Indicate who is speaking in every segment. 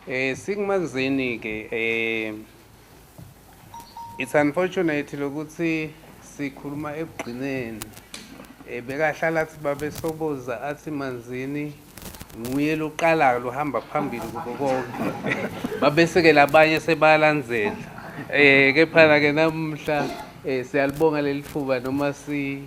Speaker 1: Eh sikumanzini ke eh it's unfortunate lokuthi sikhuluma ekugcineni eh bekahlala athi babe soboza athi manzini nguye loqalayo lohamba phambili kubo konke babesekela abanye sebalandzela eh kepha ke namhla eh siyalibonga lelithuba noma si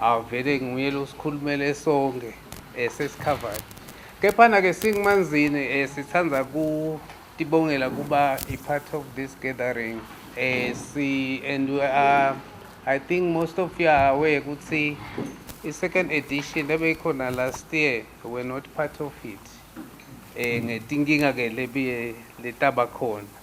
Speaker 1: Avele nguye lo sikhulumele sonke esesikhavani. Kephana ke singimanzini eh, sithanda ku tibongela kuba a part of this gathering eh si and we are i think most of you are aware ukuthi i-second edition ebeyikhona last year were not part of it eh ngetinkinga ke lebiye letaba khona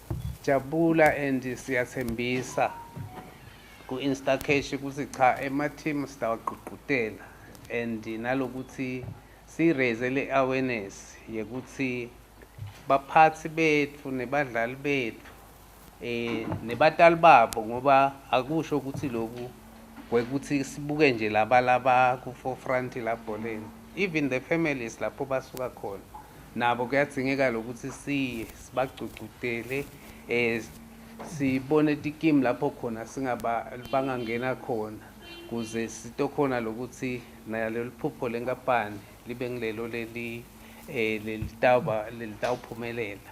Speaker 1: Jabula and siyathembisa ku Instacash ukuthi cha ema team sitawagqugqutela and nalokuthi si raise le awareness yekuthi baphathi bethu nebadlali bethu eh nebatali babo ngoba akusho ukuthi lokhu wekuthi sibuke nje laba laba ku forefront la bholeni even the families lapho basuka khona nabo kuyadzingeka lokuthi siye sibagcugcudele eh sibone tikimu lapho khona singaba bangangena khona kuze sitokhona lokuthi nalelo phupho lenkampani libe ngilelo leli eh lelitawuba lelitawuphumelela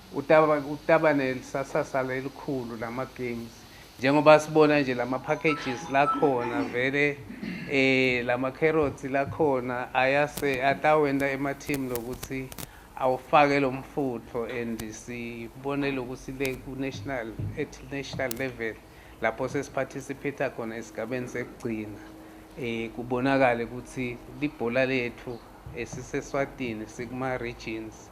Speaker 1: Utaba nelisasasa lelikhulu lama games njengoba sibona nje lama packages lakhona vele eh lama carrots lakhona ayase atawenta ema team lokuthi awufake lo mfutho and sibone lokuthi le ku national at national level lapho sesiparticipate khona esigabeni sekugcina eh kubonakale ukuthi libhola lethu esiseswatini sikuma regions